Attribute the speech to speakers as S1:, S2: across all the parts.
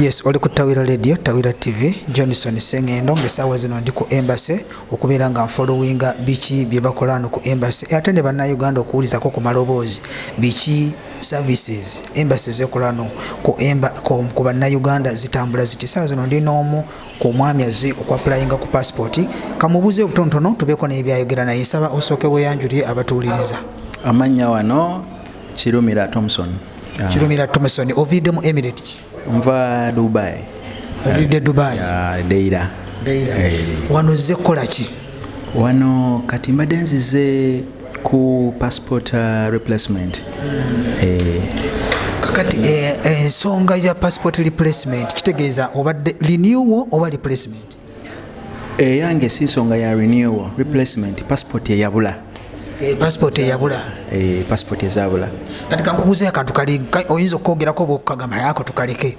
S1: yes oli ku tawira radio tawira tv johnson sengendo ngesaawa zino ndi ku embassy okubeera nga nfolowinga biki byebakola no ku embassy e, ate ne bannayuganda okuwulizako ku maloboozi biki services embassy zekola no ku, emba, ku, ku bannayuganda zitambula ziti saawa zino ndi n'omu ku mwami azze okuapulayinga ku passipooti kamubuuze obutonotono tubeeko naye byayogera naye nsaba osooke weyanjulire abatuwuliriza amannya wano
S2: kirumira thomson ah. kirumira
S1: thomson oviidde mu emirate ki nva
S2: dubai oviidde
S1: dubai ah, deira
S2: deira
S1: eh. wano ozze kukola ki wano
S2: kati mbadde nzize ku passport ah, replacement hmm. eh.
S1: kakati eh, ensonga ya passport replacement kitegeeza obadde renewal oba replacement
S2: eyange eh, si nsonga ya renewal replacement passport eyabula eh, passport
S1: eyabula eh, passport
S2: ezabula kati kankubuze
S1: akantu kali oyinza okwogerako oba okukagamba yako tukaleke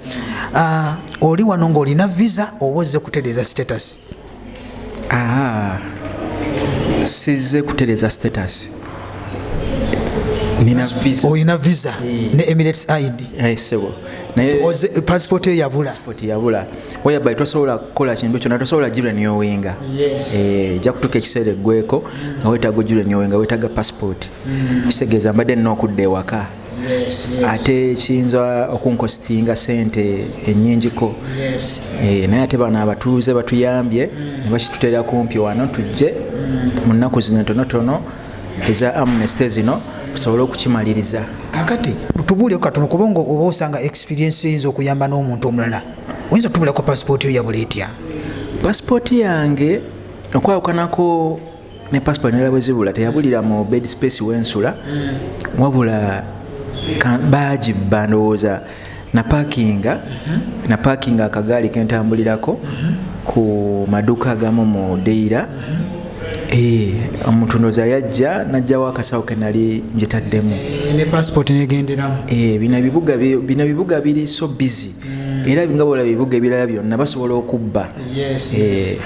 S1: ah, oli wano ngaolina visa oba ozze kutereeza status ah,
S2: sizze kutereeza status olina visa eh.
S1: ne emirates id eh,
S2: passport
S1: yo yabula
S2: whereby tosobola kukola kintu kyona tosobola gireniowenga eh, ja kutuka ekiseera eggweko nga wetaaga ogireniowenga wetaaga passport mm. kitegeeza mbadde nina okudda ewaka ate kiyinza okunkositinga sente enyingiko eh, naye ate bano abatuuze batuyambye mm. nebakitutera kumpi wano tujje mm. mu nnaku zino tonotono eza amnesty zino tusobole okukimaliriza kakati
S1: tubuuleko katono kubanga oba osanga experiensi eyinza okuyamba n'omuntu omulala oyinza otubulako pasipooti yo yabula etya pasipooti yange
S2: okwawukanako ne passport nera bwezibula teyabulira mu bed space wensula mm. wabula baji bandowooza na parkinga mm-hmm. na parkinga akagaali kentambulirako mm-hmm. ku maduka agamu mu deira mm-hmm. eh, omuntu ndoza yajja najjawo akasawo kenali njitaddemu eh, ne passport
S1: negenderamu eh, bina bibuga
S2: bina bibuga biri so busy era nga bola bibuga ebirala byonna basobola okubba eh.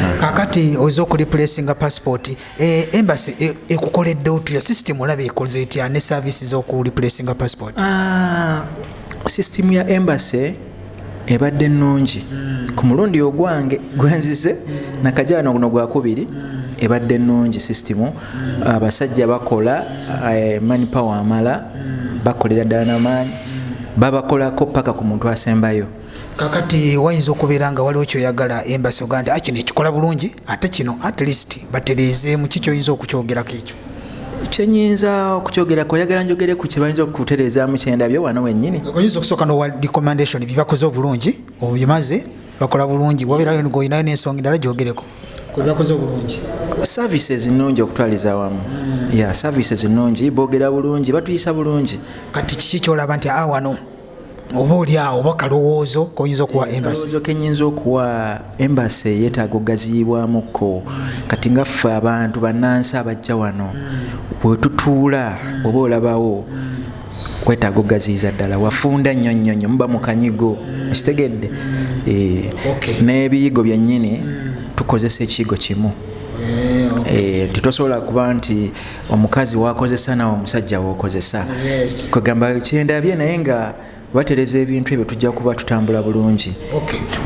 S2: ah.
S1: kakati oza okulipulesinga passport eh, embassy eh, ekukoledde otuya system olaba ekoze etya ne service zokulipulesinga passport ah,
S2: system ya embassy ebadde nnungi hmm. ku mulundi ogwange gwenzize hmm. nakajano guno gwakubiri hmm. ebadde nnungi system abasajja bakola eh, mani power amala bakolera ddala namaanyi babakolako paka ku muntu asembayo kakati
S1: wayinza okubeera nga waliwo kyoyagala embasi oga nti akino ah, ekikola bulungi ate kino at least batereezeemu ki kyoyinza okukyogerako ekyo kyenyinza
S2: okukyogerako oyagala njogere ku kyebayinza okutereezaamu kyendabyo wano wenyini oyinza okusooka nowa
S1: recommendation byebakoze obulungi obimaze bakola bulungi wabeerayo ngoyinayo n'ensonga endala gyogereko kwebakoze obulungi services
S2: nnungi okutwaliza awamu hmm. ya services nnungi boogera bulungi batuyisa bulungi kati kiki kyolaba
S1: nti awano ah, oba oli awo oba kalowoozo koyinza okuwa eh, embassy kenyinza okuwa
S2: embassy yetaaga okugaziyibwamuko kati nga ffe abantu banansi abajja wano hmm. wetutuula oba olabawo hmm. wetaaga okugaziyiza ddala wafunda nnyo nnyo nnyo muba mukanyigo okitegedde eh, n'ebiyigo byennyini tukozesa ekiyigo kimu eh, eh, titosobola kuba nti omukazi wakozesa nawe omusajja wokozesa kwegamba kyendabye naye nga batereza ebintu ebyo tujja kuba tutambula bulungi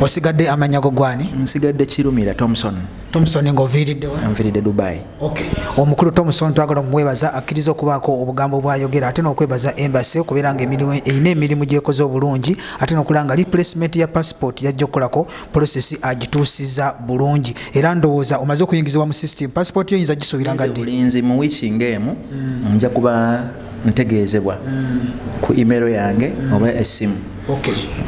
S2: osigadde
S1: amanyago gwani nsigadde kirumira
S2: thomson thomson
S1: ngaoviiriddewa nviiridde dubai Okay.
S2: omukulu
S1: tomuson twagala omumwebaza akkiriza okubaako obugambo bwayogera ate n'okwebaza embasi okubeera nga erina emirimu gyekoze obulungi ate nokulaba nga replacement ya passport yajja okukolako polosesi agituusiza bulungi era ndowooza omaze okuyingizibwa mu system passport yo yinza gisuubira nga ddi mu wiiki
S2: ngaemu mm. nja kuba ntegeezebwa ku imero yange oba essimu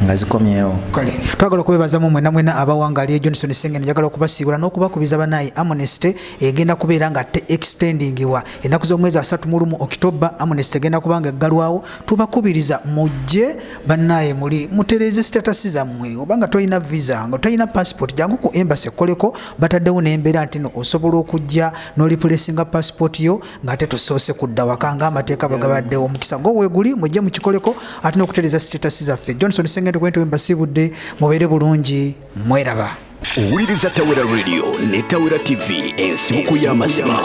S2: nga zikomyewo kale twagala okwebazamu
S1: mwena mwena abawangaaliyo johnson sengen njagala okubasiibula n'okubakubiza banaye amnesty egenda kubeera nga te extendingiwa ennaku z'omwezi asatu mu lumu okitoba amnesty egenda kuba nga eggalwawo tubakubiriza mujje banaye muli mutereeze sitatasi zammwe oba nga tolina visa nga tolina passport jangu ku embasi ekkoleko bataddewo n'embeera nti no osobola okujja n'olipulesinga passport yo ngate tusoose kudda waka nga amateeka bwe gabaddewo omukisa gwo weeguli mujje mukikoleko ate n'okutereeza sitetasi zaffe johnson sengendo gwente wembasiibudde mubeere bulungi mweraba owuliriza
S3: tawera radio ne tawera tv ensibuko y'amazima